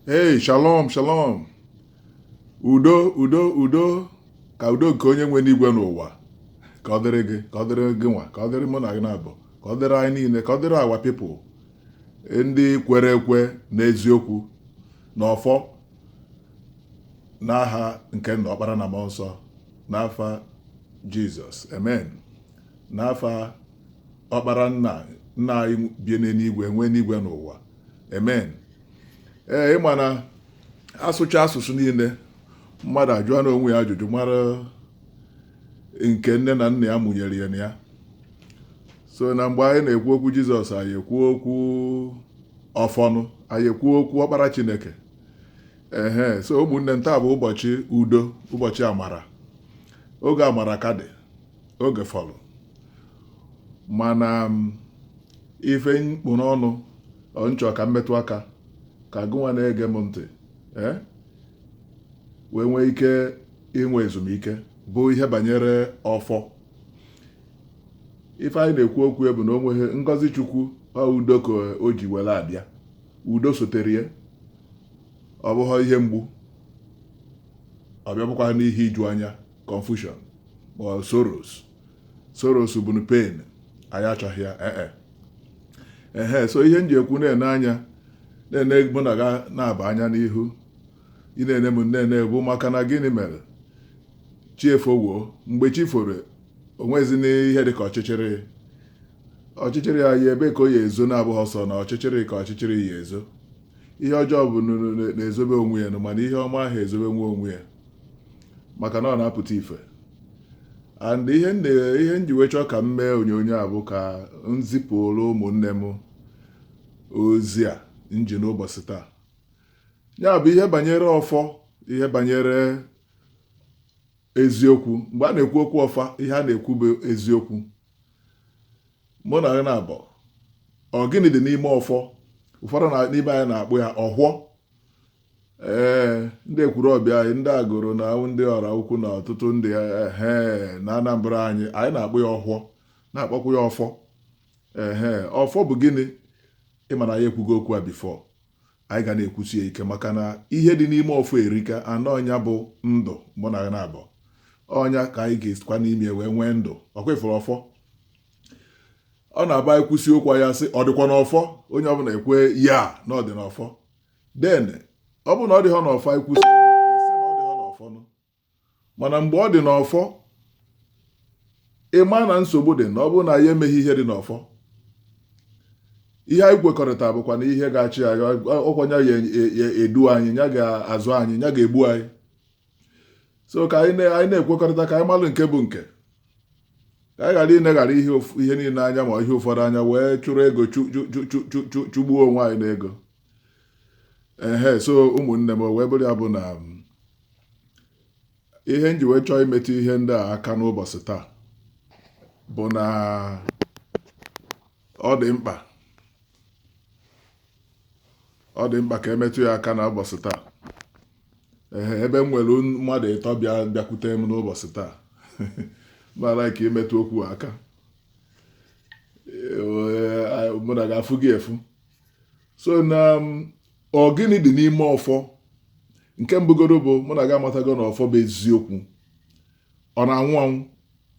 Hey, shalom, shalom. Udo, udo, udo. Ka udo nke onye nwe enigwe n'ụwa. Ka ọ dịrị gị, ka ọ dịrị gịnwa, ka ọ dịrị mụ na gị naabọ, ka ọ dịrị anyị niile, ka ọ dịrị our people. Ndị kwere ekwe n'eziokwu na ọfọ n'aha nke nna ọkpara na mmụọ nsọ n'afa Jizọs. Amen. N'afa ọkpara nna nna anyị bi n'enigwe nwee enigwe n'ụwa amen ee ị ma na asụcha asụsụ niile mmadụ ajụọ na onwe ya ajụjụ mara nke nne na nna ya mụnyere ya na ya so na mgbe anyị na-ekwu okwu jizọs anyị ekwuo okwu ọfọnụ anyị ekwuo okwu ọkpara chineke ehe so ụmụnne m taa bụ ụbọchị udo ụbọchị amara oge amara ka dị oge fọlụ mana um, ife m kpụ n'ọnụ m chọ ka m metụ aka ka gụnwa na-ege m ntị eh, wee nwee ike inwe ezumike bụ ihe banyere ọfọ ife anyị na-ekwu okwu ya bụ na o nweghị ngọzi chukwu udo ka o ji were abịa udo sotere ya ọ bụghị ihe mgbu ọ bịabụkwa n'ihe iju anya confusion or sorrows sorrows bụnụ pain anyị achọghị ya ee eh, eh. ehe so ihe m ji ekwu na-ene anya na-ene mụ na gị naabọ anya n'ihu ị na-ene m na-ene bụ maka na gịnị mere chi efowo mgbe chi foro o nwezi n'ihe dị ka ọchịchịrị ọchịchịrị ya ebe ka ọ ya-ezo na-abụghị sọ na ọchịchịrị ka ọchịchịrị ya-ezo ihe ọjọọ bụ na-ezobe onwe ya mana ihe ọma aha ezobe onwe ya maka na ọ na-apụta ife and ihe m ji wee chọọ ka m mee onyonyo a bụ ka m zipụrụ ụmụnne m ozi a m ji n'ụbọchị taa ya bụ ihe banyere ọfọ ihe banyere eziokwu mgbe a na-ekwu okwu ọfọ ihe a na-ekwu bụ eziokwu mụ na gị naabọ ọ gịnị dị n'ime ọfọ ụfọdụ n'ime anyị na-akpọ ya ọwhọ ee ndị ekwulọbịa anyị ndị agụlụ na ndị ọraukwu na ọtụtụ ndị ihe na anambra anyị anyị na-akpọ ya ọwhọ na-akpọkwu ya ọfọ ehe ọfọ bụ gịnị ị ma na anyị ekwugo okwu a before anyị ga na-ekwusi ya ike maka na ihe dị n'ime ọfọ erika and ọ nya bụ ndụ mụ na gị naabọ ọ nya ka anyị ga-esikwa n'ime wee nwee ndụ ọ kwa ị fụrụ ọfọ ọ na-abụ e kwusi okwu ya sị ọ dịkwa n'ọfọ onye ọbụla ekwe ya na ọ dị n'ọfọ then ọ bụ na ọ dịghọ n'ọfọ e kwusi mana mgbe ọ dị n'ọfọ ị ma na nsogbu dị na ọ bụrụ na anyị emeghị ihe dị n'ọfọ ihe anyị kwekọrịta bụkwanụ ihe ga-achị anyị ọ kwa nya ga-edu anyị nya ga-azụ anyị nya ga-egbu anyị so ka anyị na-ekwekọrịta ka anyị malụ nke bụ nke ka anyị ghara ineghara ihe niile anya ma ihe ụfọdụ anya wee chụrụ ego chụgbuo onwe anyị n'ego ehe so ụmụnne m o wee bụrụ ya bụ na ihe m ji wee chọọ imetụ ihe ndị a aka n'ụbọchị taa bụ na ọ dị mkpa ọ dị mkpa ka e metụ ya aka n'ụbọchị taa ehe ebe m nwere mmadụ ịtọ bịa bịakwute m n'ụbọchị taa mara ka imetụ okwu aka mụ na ga-afụ gị efu so na um, ọ gịnị dị n'ime ọfọ nke mbụ godu bụ mụ na gị amatago na ọfọ bụ eziokwu ọ na-anwụ anwụ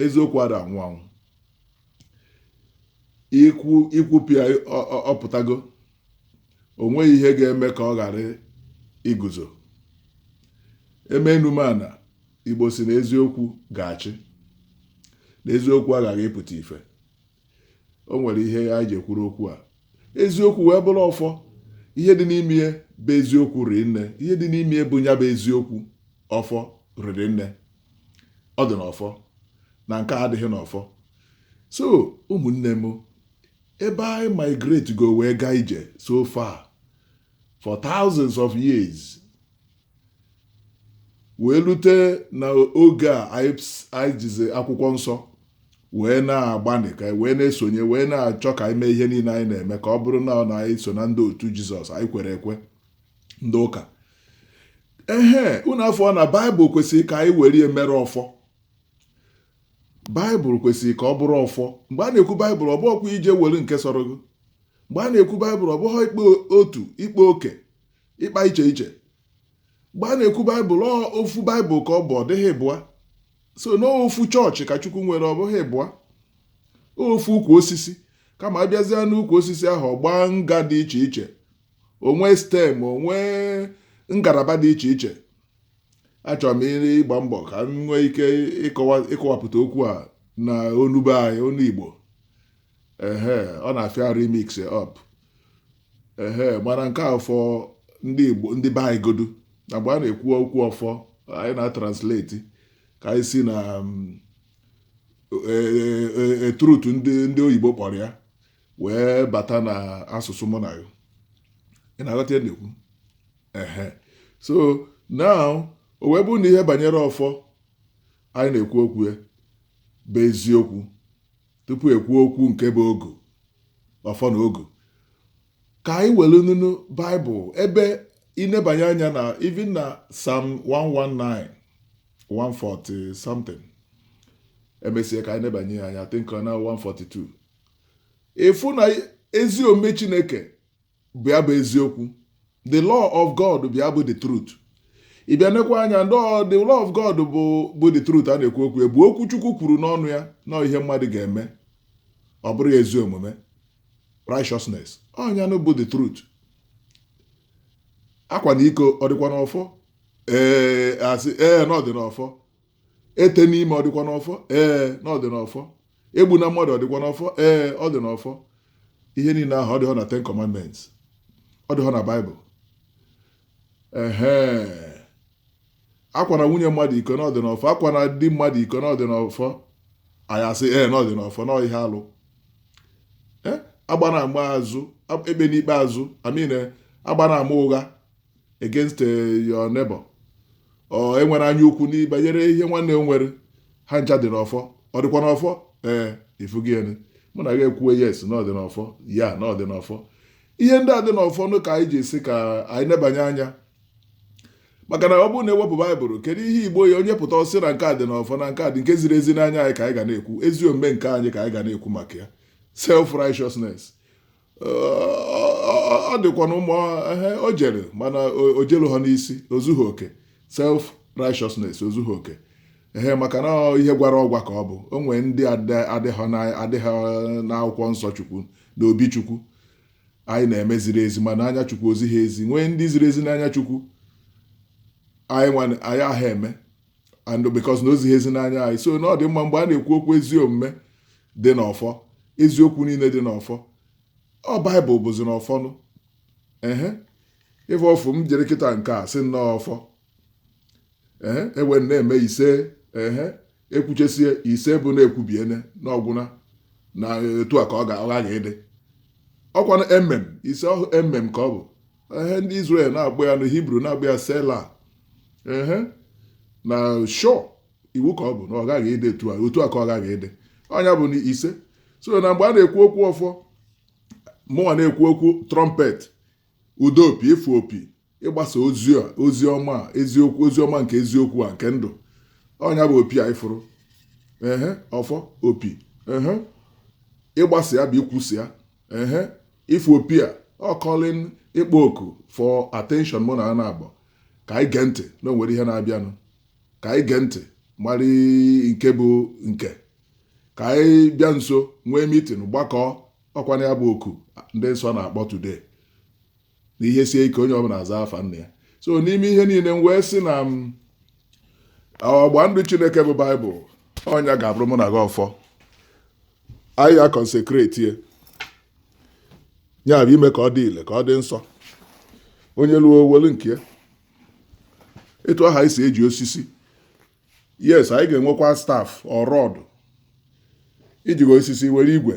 eziokwu ada anwụ anwụ i kwupịa ọ pụtago o nweghị ihe ga-eme ka ọ ghara iguzo e mee enu mee ana igbo sị na eziokwu ga-achị na eziokwu aghaghị ịpụta ife o nwere ihe anyị ji ekwuru okwu a eziokwu wee bụrụ ọfọ ihe dị n'ime ya bụ eziokwu riri nne ihe dị n'ime ya bụ nya bụ eziokwu ọfọ riri nne ọ dị n'ọfọ na nke adịghị n'ọfọ so ụmụnne m ebe anyị migrate go wee gaa ije so far for thousands of years wee lute na oge a anyị jizi akwụkwọ nsọ wee na-agbanị ka wee na-esonye wee na-achọ ka anyị mee ihe niile anyị na-eme ka ọ bụrụ na na anyị so na ndị otu jizọs anyị kwere ekwe ndị ụka ehe unu afụ na baịbụl kwesịrị ka anyị were ya mere ọfọ baịbụl kwesịrị ka ọ bụrụ ọfọ mgbe a na-ekwu baịbụl ọ bụghịkwa ije were nke sọrọ gị mgbe a na-ekwu baịbụl ọ bụghị ịkpa otu ịkpa oke ịkpa iche iche mgbe a na-ekwu baịbụl ọ ofu baịbụl ka ọ bụ ọ dịghị ịbụa so na ofu chọọchị ka chukwu nwere ọ bụghị ịbụa ofu ukwu osisi kama a bịazịa n'ukwu osisi ahụ ọ gbaa nga dị iche iche o nwee stem o nwee ngalaba dị iche iche achọrọ m ịgba mbọ ka m nwee ike ịkọwa ịkọwapụta okwu a na onu be anyị onu igbo ehe ọ na-afịa arụ e mix up ehe mana nke ọfọ ndị Igbo ndị be anyị godu na mgbe a na-ekwu okwu ọfọ anyị na-atranslate ka anyị si na mm, e, e, e, truth ndị ndị oyibo kpọrọ ya wee bata na asụsụ mụ na ya ị na-aghọta ihe a na-ekwu ehe so now o wee bụrụ na ihe banyere ọfọ anyị na-ekwu okwu ya bụ eziokwu tupu e kwuo okwu nke bụ ogu ọfọ na ogu ka anyị werenụ nụ baịbụl ebe i nebanye anya na even na Psalm 119 140 something e mesie ka anyị nebanye anya think na 142 ị fụ na ezi omume chineke bụ ya bụ eziokwu the law of God bụ ya bụ the truth ị bịa nekwa anya ndị ọ- the law of God bụ bụ the truth a na-ekwu okwu ya bụ okwu Chukwu kwuru n'ọnụ ya na ihe mmadụ ga-eme ọ bụrụ ya ezi omume righteousness ọ nya nụ bụ the truth akwana iko ọ dịkwa n'ọfọ ee a sị ee na ọ dị n'ọfọ etena ime ọ dịkwa n'ọfọ ee na ọ dị n'ọfọ egbuna mmadụ ọ dịkwa n'ọfọ ee ọ dị n'ọfọ ihe niile ahụ ọ dịghọ na ten commandments ọ dịghọ na baịbụl ehe akwana nwunye mmadụ iko na ọ dị n'ọfọ akwana di mmadụ iko na ọ dị n'ọfọ anyị asị ee na ọ dị n'ọfọ na ọ ihe alụ agbana ama azụ ekpena ikpe azụ I mean agbana ama ụgha against eh, your neighbor or enwere anya ukwu n'ihe banyere ihe nwanne m nwere ha ncha dị n'ọfọ ọ dịkwa n'ọfọ ee ifugịnị mụ na gị ekwuwe yes na ọ dị n'ọfọ ya na ọ dị n'ọfọ ihe ndị a dị n'ọfọ nụ ka anyị ji asị ka anyị nebanye anya maka na ọ bụrụ na e wepụ baịbụl kedu ihe Igbo ya onye pụta ọ sị na nke a dị n'ọfọ na nke a dị nke ziri ezi n'anya anyị ka anyị ga na-ekwu ezi omume nke anyị ka anyị ga na-ekwu maka ya self righteousness ọ dịkwanụ mma ebe o jere mana o jeluhọ n'isi o zughị oke self righteousness o zughị oke ee maka na ihe gwara ọgwa ka ọ bụ o nwee ndị adịghị n'akwụkwọ nsọ chukwu na obi chukwu anyị na-eme ziri ezi ma n'anya chukwu o ziha ezi nwee ndị ziri ezi n'anya chukwu anyị aha eme and because na o zighị ezi n'anya anyị so na ọ dị mma mgbe a na-ekwu okwu ezi omume dị n'ọfọ eziokwu niile dị n'ọfọ ọ baịbụl bụzinụ ọfọnụ ehe ife ọfụ m jiri kịta nke a sị nnọọ ọfọ ehe e wee na-eme ise ehe e kwuchesie ise bụ na e kwubiene na ọ gwụna na etu a ka ọ ga-aghaghị ịdị ọ kwa na amen ise ọhụ amen ka ọ bụ ehe ndị Israel na-akpọ ya na Hibru na-akpọ ya sela ehe na sure iwu ka ọ bụ na ọ gaghị ịdị etu a otu a ka ọ gaghị ịdị ọ nya bụ na isee so na mgbe a na-ekwu okwu ọfọ mụnwa na-ekwu okwu trumpet udo opi ịfụ opi ịgbasa ozi a ozi ọma a, eziokwu ozi ọma nke eziokwu a nke ndụ ọ nya bụ opi a ị fụrụ ehe ọfọ opi ehe ịgbasa ya bụ ikwusa ya ehe ịfụ opi a ọ calling ịkpọ oku for attention mụ na a naabọ ka anyị gee ntị na o nwere ihe na-abịanụ ka anyị gee ntị mara nke bụ nke ka anyị bịa nso nwee meeting gbakọọ ọkwanụ ya bụ oku ndị nsọ na-akpọ today na ihe sie ike onye ọbụla aza afa nna ya so n'ime ihe niile m wee sị na ọgba ndụ chineke bụ baịbụl ọ nya ga-abụrụ mụ na gị ọfọ anyị ya consecrate ya ya bụ ime ka ọ dị ile ka ọ dị nsọ onye lụọ o welu nke ya etu ahụ anyị si eji osisi yes anyị ga-enwekwa staff or rod i jighị osisi were igwe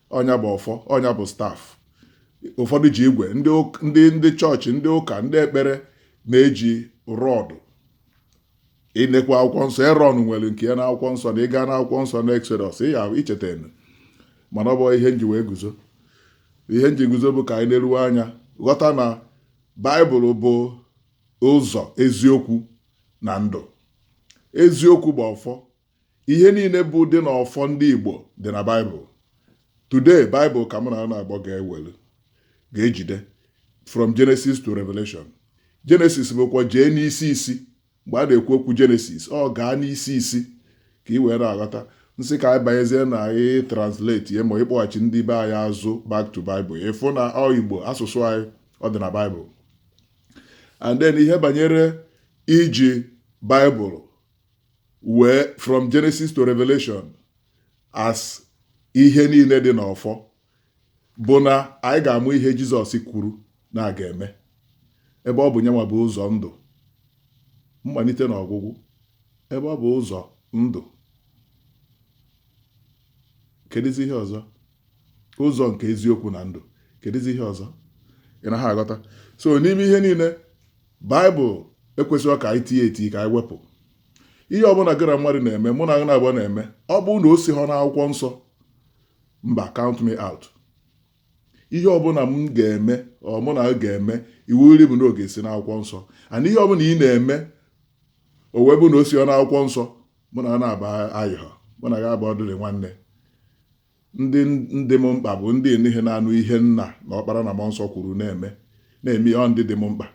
ọ nya bụ ọfọ ọ nya bụ staff ụfọdụ ji igwe ndị ụk- ndị ndị chọọchị ndị ụka ndị ekpere na-eji rod ị nekwa akwụkwọ nsọ erọn nwere nke ya n'akwụkwọ nsọ na ị gaa n'akwụkwọ nsọ na exodus ị ya-echetanụ mana ọ bụ ihe m ji wee guzo ihe m ji guzo bụ ka anyị neruwe anya ghọta na baịbụl bụ ụzọ eziokwu na ndụ eziokwu bụ ọfọ ihe niile bụ dị na ọfọ ndị Igbo dị na Baịbụl today Baịbụl ka mụ na gị naabọ ga-ewelu ga-ejide from Genesis to Revelation Genesis bụkwa jee n'isi isi mgbe a na-ekwu okwu Genesis ọ gaa n'isi isi ka ị wee na-aghọta m sị ka anyị banyezie na anyị translate ya ma ịkpọghachi ndị be anyị azụ back to Bible ịfụ na ọ Igbo asụsụ anyị ọ dị na Bible and then ihe banyere iji Bible wee from Genesis to Revelation as ihe niile dị n'ọfọ bụ na anyị ga-amụ ihe Jizọs kwuru na a ga-eme ebe ọ bụ nyanwa bụ ụzọ ndụ mmalite na ọgwụgwụ ebe ọ bụ ụzọ ndụ kedụzi ihe ọzọ ụzọ nke eziokwu na ndụ kedụzi ihe ọzọ ị na-aghọta so n'ime ihe niile baịbụl ekwesịghị ka anyị tinye eti ka anyị wepụ ihe ọbụla gị na mmadụ na-eme mụ na gị naabọ na-eme ọ bụrụ na o siha n'akwụkwọ nsọ mba count me out ihe ọbụla m ga-eme ọ mụ na gị ga-eme iwu iri bụ na ọ ga-esi n'akwụkwọ nsọ and ihe ọbụla ị na-eme o wee bụ na o sihọ n'akwụkwọ nsọ mụ na gị naabọ ayịha mụ na gị abụọ dịrị nwanne Ndị dị m mkpa bụ ndị niile na-anụ ihe nna na ọkpara na mmụọ nsọ kwuru na-eme na-eme ihe ọ ndị dị m mkpa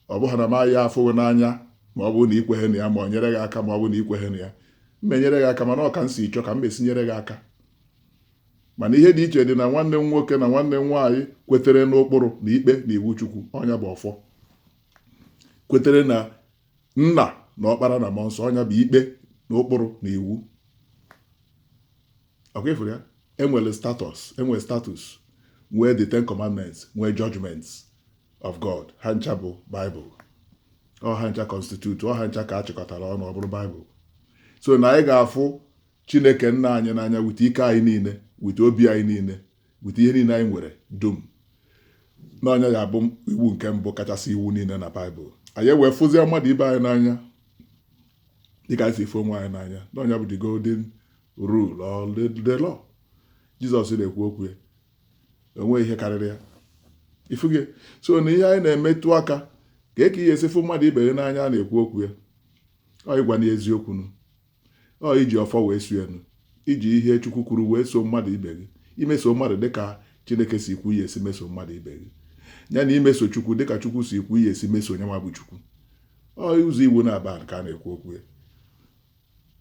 ọ bụghị na m aya afụ gị n'anya ma ọ bụrụ na ikweghị na ya ma ọ nyere gị aka ma ọ bụrụ na ikweghị na ya m enyere gị aka mana ọ ka m si chọọ ka m esi nyere gị aka mana ihe dị iche dị na nwanne m nwoke na nwanne m nwaanyị kwetere n'ụkpụrụ na ikpe na iwu Chukwu ọ nya bụ ọfọ kwetere na nna na ọkpara na mmụọ nsọ ọ nya bụ ikpe na ụkpụrụ na iwu ọ kwa ị fụrụ ya enwere enwere statutes nwee the ten commandments nwee judgments of god ha ncha bụ bible ọ ha ncha constitute ọ ha ncha ka a chịkọtara ọnụ ọ bụrụ bible so na anyị ga-afụ chineke nna anyị n'anya with ike anyị niile with obi anyị niile with ihe niile anyị nwere dum na ọ nya ya bụ iwu nke mbụ kachasị iwu niile na baịbụl anyị wee fụzie mmadụ ibe anyị n'anya dịka anyị si fụ onwe anyị n'anya na ọ nya bụ the golden rule our Lord jizọs na-ekwu okwu ya o nwee ihe karịrị ya ị fụgo so na ihe anyị na-emetụ aka ka eke ị ya-esi fụ mmadụ ibe ya n'anya na-ekwu okwu ya ọ ịgwa nya eziokwu nụ Ọ iji ọfọ wee so ya nụ, iji ihe Chukwu kwuru wee so mmadụ ibe gị, imeso mmadụ dịka Chineke si kwu ị ya-esi meso mmadụ ibe gị, ya na imeso Chukwu dịka Chukwu si kwu ị ya-esi meso nya nwa bụ Chukwu. Ọ ụzọ iwu naabọ ka a na-ekwu okwu ya.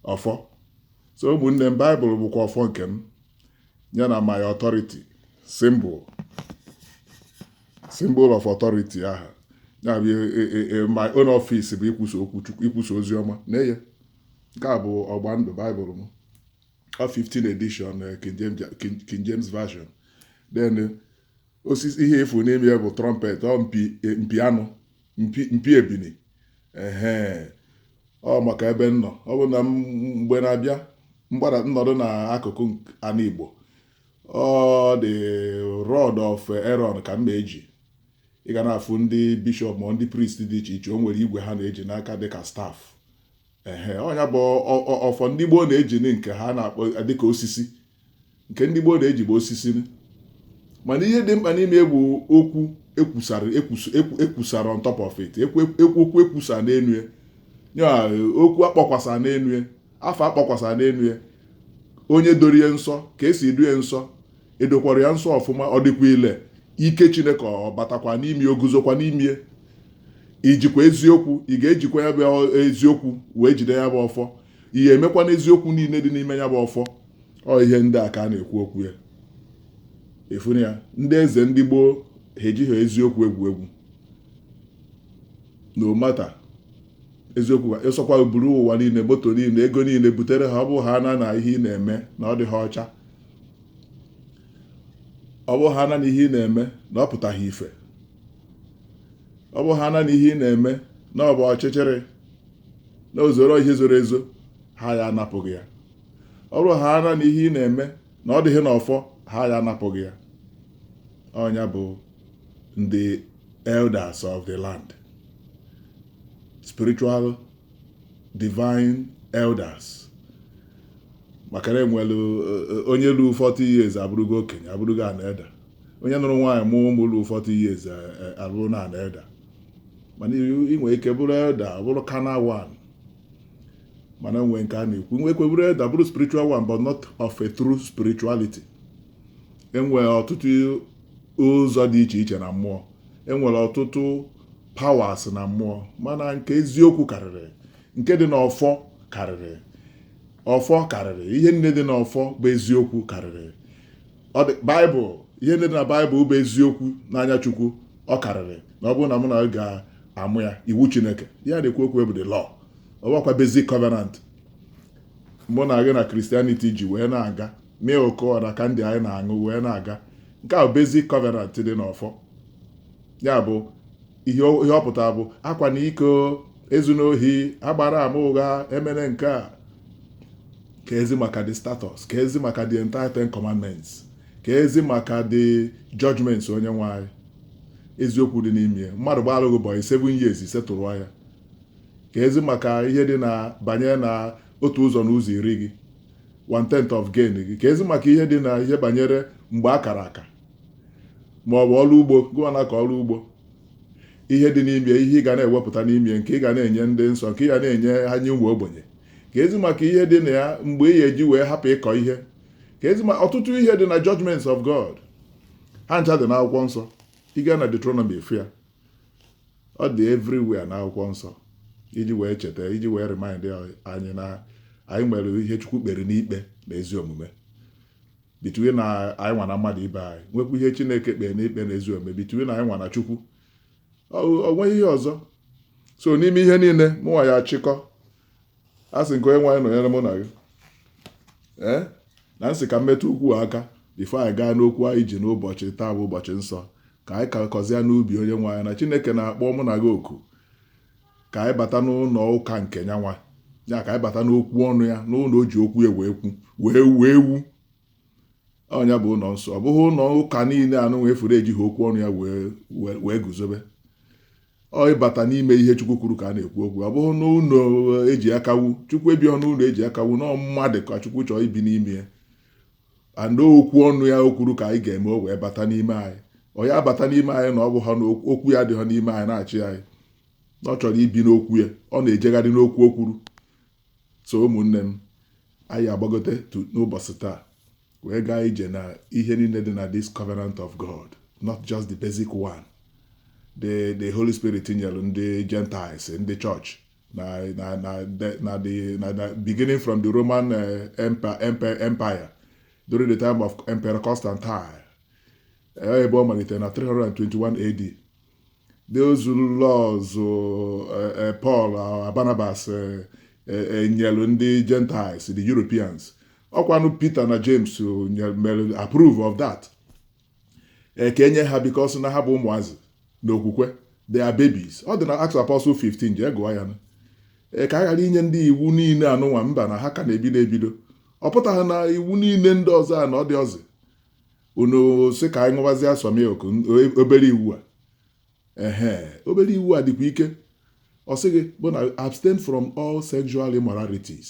Ọfọ. So ụmụnne m, Baịbụl bụkwa ọfọ nke m, ya na my authority, symbol. symbol of authority aha ya bụ e, e, e, e my own office bụ ikwusa okwu chukwu ikwusa ozi ọma na eye nke a bụ ọgba ndụ baịbụl m ọ 15 edition eh, King James, King, King James version then eh, osisi ihe ị fụ n'ime ya bụ trumpet ọ mpi eh, mpi anụ mpi mpi ebini ehe ọ maka ebe m nọ ọ bụ na m- mgbe na-abịa mgbada m nọdụ n'akụkụ anị igbo ọ the rod of Aaron ka m na-eji ị ga na-afụ ndị bishọp ma ndị priest dị iche iche o nwere igwe ha na-eji n'aka dịka staff ehe ọ nya bụ ọfọ ndị gboo na-eji nke ha na-akpọ dịka osisi nke ndị gboo na-eji bụ osisi mana ihe dị mkpa n'ime bụ okwu ekwusara ekwusara on top of it ekwu okwu ekwusa n'enu ya okwu akpọkwasa n'enu ya afa akpọkwasa n'enu ya onye doro ya nsọ ka esi edo ya nsọ edokwara ya nsọ ọfụma ọ dịkwa ile ike chineke ọ batakwa n'ime o guzokwa n'ime ijikwa eziokwu ị ga-ejikwa ya bụ eziokwu wee jide ya bụ ọfọ ị ga-emekwa n'eziokwu niile dị n'ime ya bụ ọfọ ọ ihe ndị a ka a na-ekwu okwu ya ị fụna ya ndị eze ndị gboo ha ejighị eziokwu egwu egwu no matter eziokwu ị sọkwa buru ụwa niile moto niile ego niile butere ha ọ bụ ha na na ihe ị na-eme na ọ dịghị ọcha ọ bụ ha na na ihe ị na-eme na ọ pụtaghị ife ọ bụ ha na na ihe ị na-eme na ọ bụ ọchịchịrị na ozoro ihe zoro ezo ha ya-anapụ gị ya ọ bụrụ ha na na ihe ị na-eme na ọ dịghị n'ọfọ ha ya-anapụ gị ya ọ nya bụ the elders of the land, spiritual divine elders. maka na enwere eh, eh, onye luo 40 years abụrụgo okenye abụrụgo an elder onye nụrụ nwaanyị mụọ ụmụ luo 40 years eh, abụrụna an elder mana ị nwere ike bụrụ elder bụrụ carnal one mana nwee nke a na-ekwu nwekwe bụrụ elder bụrụ spiritual one but not of a true spirituality enwere ọtụtụ ụzọ dị iche iche na mmụọ enwere ọtụtụ powers na mmụọ mana nke eziokwu karịrị nke dị n'ọfọ karịrị ọfọ karịrị ihe niile dị n'ọfọ bụ eziokwu karịrị baịbụl ihe niile dị na baịbụl bụ eziokwu n'anya chukwu ọ karịrị na ọ bụrụ na mụ na gị amụ ya iwu chineke a na-ekwu okwu bụ the law ọ bụkwa basic covenant mụ na gị na Christianity ji wee na-aga milk ọ na candy anyị na-aṅụ wee na-aga nke a bụ basic covenant dị n'ọfọ ya bụ ihe ọ- ihe ọ pụtara bụ akwana iko ezuna ohi agbana ama ụgha emene nke a ka ezi maka the statutes ka ezi maka the entire ten commandments ka ezi maka the judgments onye nwe anyị eziokwu dị n'ime ya. mmadụ gbara gị bọyị 7 years ị settle ya ka ezi maka ihe dị na banye na otu ụzọ na ụzọ iri gị one tenth of gain gị ka ezi maka ihe dị na ihe banyere mgbe a kara aka ma ọ bụ ọrụ ugbo gụwa na-akọ ọrụ ugbo ihe dị n'ime ihe ị ga na-ewepụta n'ime nke ị ga na-enye ndị nsọ nke ị ga na-enye ha nye ụmụ ogbenye ka ezi maka ihe dị na ya mgbe ị ga-eji wee hapụ ịkọ ihe ka ezi maka ọtụtụ ihe dị na judgments of God ha ncha dị n'akwụkwọ nsọ ị gaa na Deuteronomy ị fụ ya ọ dị everywhere na akwụkwọ nsọ iji wee cheta iji wee remind anyị na anyị nwere ihe chukwu kpere n'ikpe na ezi omume between na anyị nwa na mmadụ ibe anyị nwekwa ihe chineke kpere n'ikpe na ezi omume between na anyị nwa na chukwu o nweghị ihe ọzọ so n'ime ihe niile mụnwa ya-achịkọ a sị nke onye nwe anyị nọnyere mụ na gị ee na m sị ka m metụ okwu a aka before anyị gaa n'okwu anyị ji n'ụbọchị taa bụ ụbọchị nsọ ka anyị kakọzịa n'ubi onye nwe anyị na chineke na-akpọ mụ na gị oku ka anyị bata n'ụlọ ụka nke nyanwa ya ka anyị bata n'okwu ọnụ ya n'ụlọ o ji okwu ya wee kwu wee wuo ewu ọ ya bụ ụlọ nsọ ọ bụghị ụlọ ụka niile anụwa i furu ejighị okwu ọnụ ya wee guzobe ọ ya ịbata n'ime ihe chukwu kwuru ka a na-ekwu okwu ọ bụghị n'ụlọ e ji aka wu chukwu ebiho n'ụlọ e ji aka wu na mmadụ ka chukwu chọọ ibi n'ime ya and okwu ọnụ ya o kwuru ka anyị ga-eme o wee bata n'ime anyị ọ ya abata n'ime anyị na ọ bụ ha na okwu ya adịghị n'ime anyị na-achị anyị ọ chọrọ ibi n'okwu ya ọ na-ejegharị n'okwu o kwuru So ụmụnne m, anyị agbagotetụ n'ụbọchị taa wee gaa ije na ihe niile dị na this covenant of God, not just the basic one. The, the Holy Spirit nyere ndị Gentiles, ndị church na na na the- na the na the beginning from the Roman eh, empa- empa- empire during the time of Emperor Constantine. Eh, ebe ọ malitere na 321 AD those laws eh, eh, Paul eh, Barnabas nyelu ndị Gentiles the Europeans ọkwanụ Peter na James mere approve of that ka e nye ha because na ha bụ ụmụazị n'okwukwe they are babies ọ dị na Acts Apostle 15 jee gụọ ya ka a ghara inye ndị iwu niile anụnwa mba na ha ka na-ebido ebido ọ pụtaghị na iwu niile ndị ọzọ a na ọ dịhọzi unu sị ka anyị ṅụbazie sọ milk obere iwu a ehe obere iwu a dịkwa ike ọ sị gị bụ na abstain from all sexual immoralities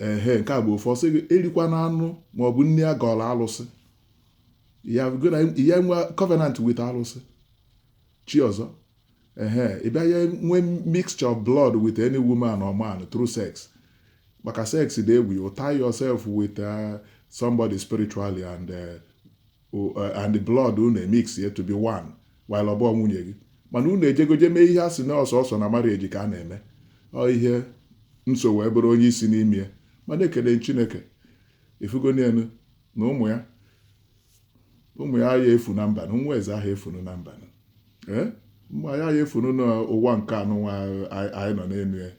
ehe nke a bụ ofu ọ sị gị erikwana anụ ma ọ bụ nri a gọrọ alụsị ya enwe covenant with alụsị chi ọzọ ehe ị bịa ya nwee mixture of blood with any woman or man through sex maka sex dị egwu you tie yourself with uh, somebody spiritually and uh, o- uh, and the blood unu emixie to be one while ọ bụ nwunye gị mana unu ejego je mee ihe a sị na ọ sọọsọ na marriage ka a na-eme ọ ihe nsọ wee bụrụ onye isi n'ime ya mana ekele chineke i fugonu ya nụ na ụmụ ya ụmụ ya aya efu na mba nụ nwa eze aha efunu na mba nụ ee ụmụ ya aya efunu n'ụwa nke anụnwa anyị nọ n'elu ya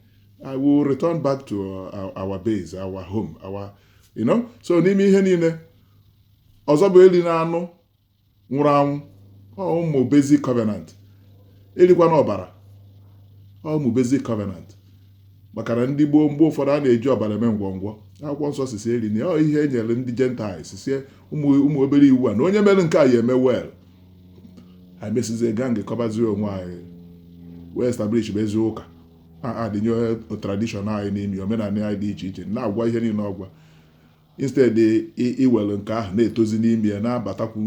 I will return back to uh, our base our home our you know so n'ime ihe niile ọzọ bụ elina anụ nwụrụ anwụ ụmụ basic covenant erikwana ọbara ụmụ basic covenant maka na ndị gboo mgbe ụfọdụ a na-eji ọbara eme ngwọngwọ akwụkwọ nsọ sị sị erina ọ ihe e nyere ndị Gentiles sie ụmụ obere iwu a na onye mere nke a ya eme well anyị mesizie gaa gbakọbazie onwe anyị wee establish bazie ụka addịnye tradition anyị n'ime omenala anyị dị iche iche na-agwa ihe niile ọgwa instead i were nke ahụ na-etozi n'ime ya na-abatakwu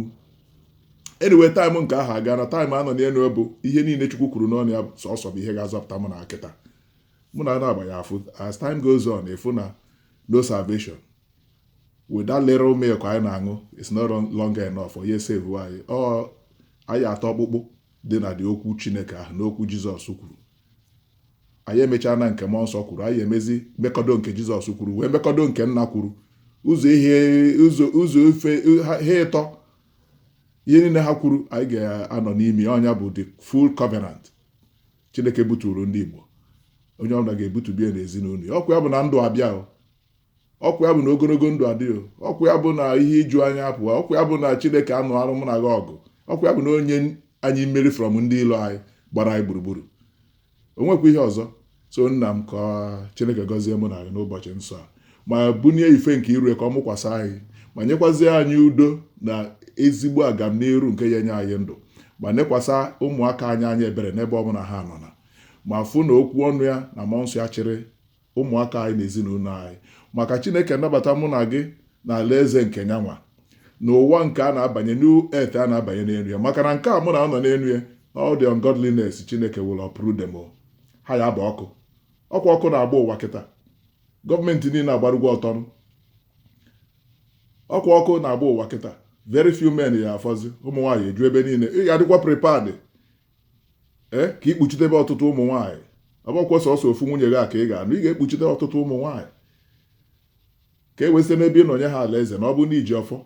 anyway time nke ahụ agaa na time a nọ n'elu bụ ihe niile chukwu kwuru n'ọnụ ya sọsọ bụ ihe ga-azọpụta mụ na kịta mụ na na-agba ya afụ as time goes on ị fụ na no salvation with that little milk anyị na-aṅụ it's not longer enough for ya save anyị ọ anyị ịta ọkpụkpụ dị na dị okwu chineke ahụ n'okwu jizọs kwuru anyị emechaa na nke mmụọ nsọ kwuru anyị emezi mekọdo nke jizọs kwuru wee mekọdo nke nna kwuru ụzọ ife ha ịtọ ihe niile ha kwuru anyị ga-anọ n'ime ya. ọ nya bụ the full covenant chineke butuuru ndị igbo onye ọbụla ga-ebutu be ya n'ezinụlọ ya ọkwa ya bụ na ndụ abịa o ọkwa ya bụ na ogologo ndụ adị o ọkwa ya bụ na ihe iju anya apụwa ọkwa ya bụ na chineke anụarụ mụ na gị ọgụ ọkwa ya bụ na o nye anyị mmeri from ndị ilo anyị gbara anyị gburugburu o nwekwa ihe ọzọ so nna m ka chineke gọzie mụ na gị n'ụbọchị nsọ a ma bunie ife nke iru ya ka ọ mụkwasị anyị ma nyekwazie anyị udo na ezigbo agamniru nke ya nye anyị ndụ ma nekwasa ụmụaka anyị anya ebere n'ebe ọ bụla ha nọ na ma fụ na okwu ọnụ ya na mmụọ nsọ ya chịrị ụmụaka anyị na ezinụlọ anyị maka Chineke anabata mụ na gị na alaeze nke nya nwa na ụwa nke a na-abanye new earth a na-abanye n'elu ya maka na nke a mụ na a nọ n'elu ya all the ungodliness Chineke will uproot them all. ha ya-abụ ọkụ ọkwa ọkụ na-agba ụwa kịta gọọmenti niile agbarụgwo ọtọ nụ ọkwa ọkụ na-agba ụwa kịta very few men ya-afọzi ụmụ nwaanyị eju ebe niile ị ga-adịkwa prepared ee ka i kpuchitebe ọtụtụ ụmụ nwaanyị ọ bụkwa sọsọ ofu nwunye gị a ka ị ga-anụ ị ga-ekpuchite ọtụtụ ụmụ nwaanyị ka e wee site n'ebe ị nọ nye ha alaeze na ọ bụ na iji ọfọ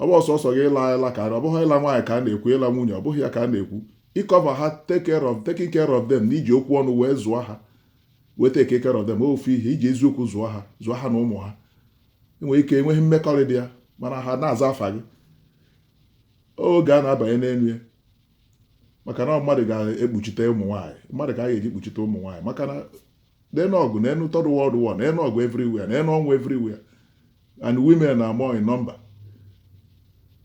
ọ bụọ sọsọ gị ịla ịla ka ọ bụghị ịla nwaanyị ka a na-ekwu ịla nwunye ọ bụghị ya ka a na-ekwu ịcover ha take care of taking care of them na iji okwu ọnụ wee zụọ ha wee take care of them ofu ihe iji eziokwu zụọ ha zụọ ha na ụmụ ha e nwere ike enweghị mmekọrịta ya mana ha na-aza afa gị oge a na-abanye n'elu ya maka na mmadụ ga-ekpuchite ụmụ nwaanyị mmadụ ka a ga-eji kpuchite ụmụ nwaanyị maka na n'enu ọgụ n'enu third world war n'enu ọgụ everywhere n'enu ọnwụ everywhere and women are more in number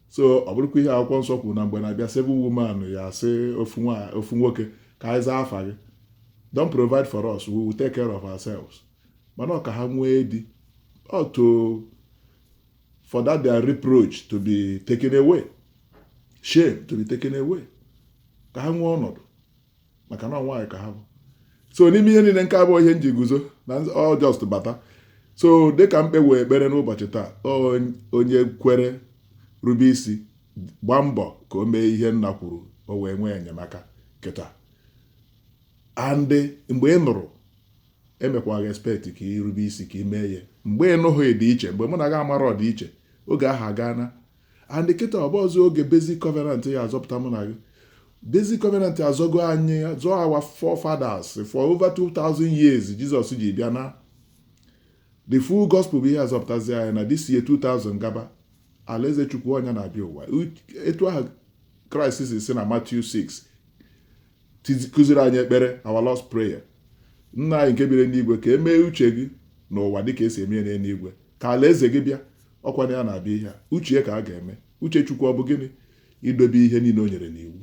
so ọ bụrụkwa ihe akwụkwọ nsọ kwuru na mgbe na-abịa seven women ya-asị ofu nwoke ka anyị zaa afa gị don't provide for us we will take care of ourselves mana ọ ka ha nwee di o to for that their reproach to be taken away shame to be taken away ka ha nwee ọnọdụ maka na nwaanyị ka ha bụ so n'ime ihe niile nke a bụ ihe m ji guzo na all just bata so dịka m kpewe ekpere n'ụbọchị taa onye kwere rube isi gbaa mbọ ka o mee ihe nna kwuru o wee nwee enyemaka kịta and mgbe ị nụrụ emekwaghị expect ka ị rube isi ka ị mee ya mgbe ị nụghị dị iche mgbe mụ na gị amarọ dị iche oge ahụ agaana and kịta ọ bụrọzi oge basic covenant ya azọpụta mụ na gị basic covenant azọgo anyị zọọ our forefathers for over 2000 years Jizọs ji bịa na the full gospel bụ ihe azọpụtazi anyị na this year 2000 gaba alaeze chukwu ọ ya na-abịa ụwa etu ahụ kraịst si na Matthew 6 kụziri anyị ekpere our Lord's Prayer nna anyị nke biri n'igwe ka e mee uche gị n'ụwa dịka e si eme ya n'eluigwe ka alaeze gị bịa ọkwa na ya na-abịa ihe uche ya ka a ga-eme uche chukwu ọ bụ gịnị idobe ihe niile o nyere n'iwu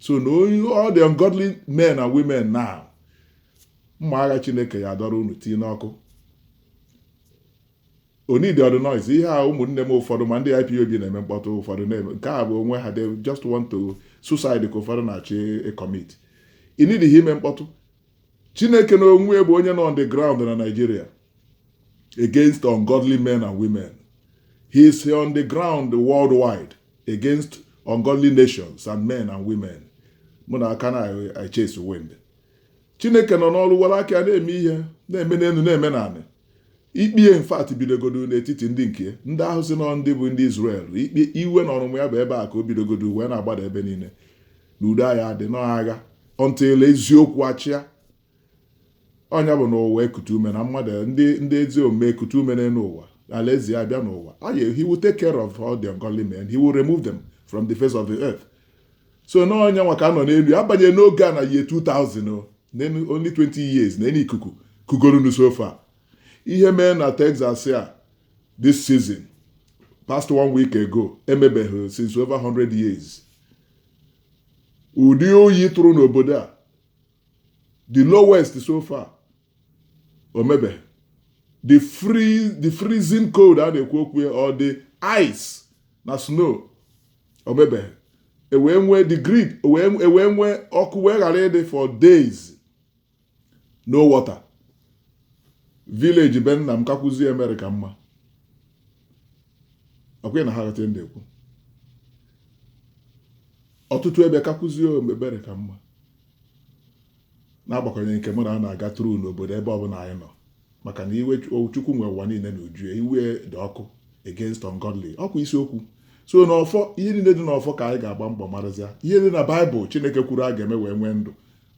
so na all the ungodly men and women now mma agha chineke ya adọrọ unu tii n'ọkụ O needirọ ụdị noise ihe a ụmụnne m ụfọdụ ma ndị IPOB na-eme mkpọtụ ụfọdụ na-eme nke egbu onwe ha they just want to suicide ka ụfọdụ na-achọ ịcommit i needighị ime mkpọtụ Chineke n'onwe ya bụ onye nọ on the ground na Nigeria against ungodly men and women he is on the ground worldwide against ungodly nations and men and women mụ na aka na I chase wind chineke nọ n'ọrụ were aka ya na-eme ihe na-eme n'elu na-eme n'anị ikpe in fact bidogodo n'etiti ndị nke ndị ahụ sị na ọ ndị bụ ndị Izrel ikpe iwe na ọnụmụ ya bụ ebe a ka o bidogodo wee na-agbada ebe niile na udo agaghị adị n'agha until eziokwu achịa ọ ya bụ na ụwa ekute ume na mmadụ ndị ndị ezi omume ekute ume n'elu ụwa alaeze ya bịa n'ụwa he will take care of all the ungodly men he will remove them from the face of the earth so na ọ ya nwa ka a nọ n'elu abanye n'oge a na year 2000 only 20 years nene ikuku kugoronụ so far ihe mee na Texas a this season past one week ago emebeghị since over 100 years ụdị oyi tụrụ n'obodo a the lowest so far o mebeghị the free the freezing cold a na-ekwu okwu ya or the ice na snow o mebeghị e wee nwee the grid e wee nwee ọkụ wee ghara ịdị for days no water village be nna m kakwuzie America mma ọkwa ị na-aghọta ndị ekwu ọtụtụ ebe kakwuzie America mma na-agbakwanye nke mụ na gị na-aga through n'obodo ebe ọbụla anyị nọ maka na iwe Chukwu nwe ụwa niile n'uju iwe dị ọkụ against ungodly ọkwa isiokwu so n'ọfọ ihe niile dị n'ọfọ ka anyị ga-agba mbọ marazịa ihe dị na baịbụl chineke kwuru a ga-eme wee nwee ndụ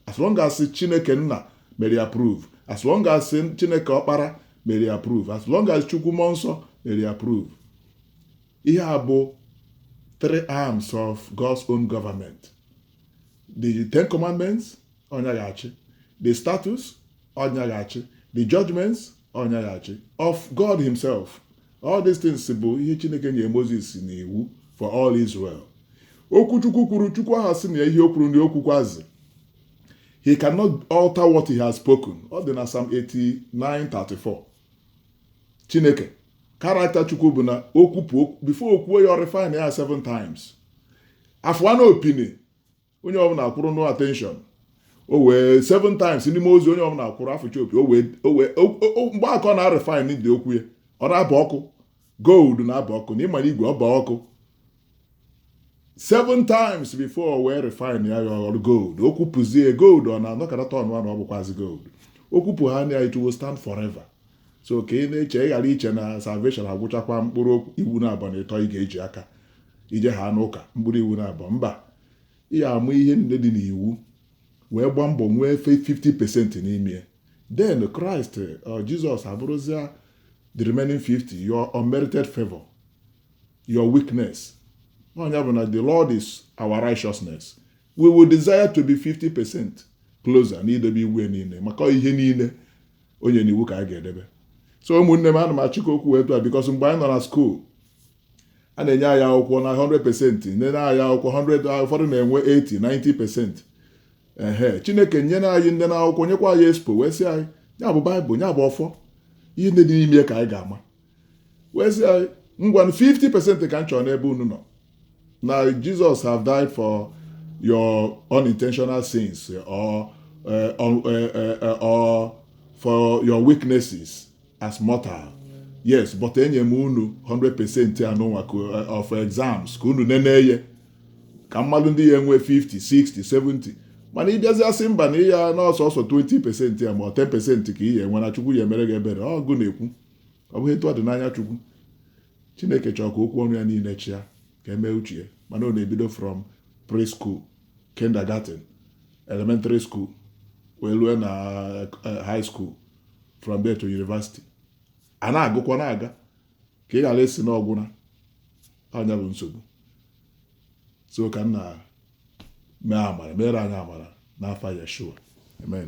as long as chineke nna mere approve as long as chineke ọkpara mere approve as long as chukwu mmụọ nsọ mere approve ihe a bụ three arms of God's own government the ten commandments ọ nya ga-achị the statutes ọ nya ga-achị the judgments ọ nya ga-achị of God himself all these things bụ ihe Chineke nyere Moses na iwu for all Israel okwu Chukwu kwuru Chukwu aha asị na ihe o kwuru na o kwukwazi he cannot alter what he has spoken ọ dị na Psalm 89:34 Chineke character Chukwu bụ na okwu before o kwuo ya ọ refine ya seven times afụwanụ opi ni onye ọbụla akwụrụ na attention o wee seven times ndị mmụọ ozi onye ọbụla akwụrụ afụcha opi o wee o wee o- o- o- mgbe a ka ọ na-refine dị okwu ya ọ na-aba ọkụ gold na-aba ọkụ na ịmara igwe ọ ba ọkụ seven times before o wee refine ya aghọrọ gold o kwupụzie gold ọ na-anọkata turnụa na ọ bụkwazi gold o kwupụ ha na it will stand forever so ka ị na-eche ị ghara iche na salvation agwụchakwa mkpụrụ iwu naabọ na ịtọ ị ga-eji aka ije ha n'ụka mkpụrụ iwu naabọ mba ị ya-amụ ihe niile dị n'iwu wee gbaa mbọ nwee 50% n'ime ya then Christ uh, Jesus abụrụzia the remaining 50 your unmerited favor your weakness ọ nya bụ na the lord is our righteousness we will desire to be 50% closer na idobe iwu niile maka ihe niile o nye n'iwu ka anyị ga-edebe so ụmụnne m ana m achịkọ okwu etu a because mgbe anyị nọ na school a na-enye anyị akwụkwọ na 100 percent nene anyị akwụkwọ 100 ụfọdụ na-enwe 80 90 percent ehe chineke nyere anyị nnene akwụkwọ nyekwa anyị expo wee sị anyị ya bụ Bible ya bụ ọfọ ihe ndị dị n'ime ka anyị ga-ama wee sị anyị ngwa 50 percent ka m chọrọ n'ebe unu nọ na Jesus have died for your unintentional sins or, uh, or, uh, uh, or for your weaknesses as mortal yes but enye m unu 100 percent anụnwa of exams ka unu nene ye ka a mara ndị ya-enwe 50 60 70 mana ị bịazi asị mba na ịya na ọ sọsọ 20 percent ya ma ọ 10 percent ka ị ya-enwe na chukwu ya-emere gị ebere ọ gị na-ekwu ọ bụghị etu ọ dị n'anya chukwu chineke chọrọ ka okwu ọnụ ya niile chịa ka e mee uche ya mana ọ na-ebido from preschool kindergarten elementary school wee rue na eh, high school from there to university a na-agụkwa na-aga ka ị ghara ịsị na ọ gwụna nya bụ nsogbu so ka nna mee amara mere anyị amara n'afa Yeshua amen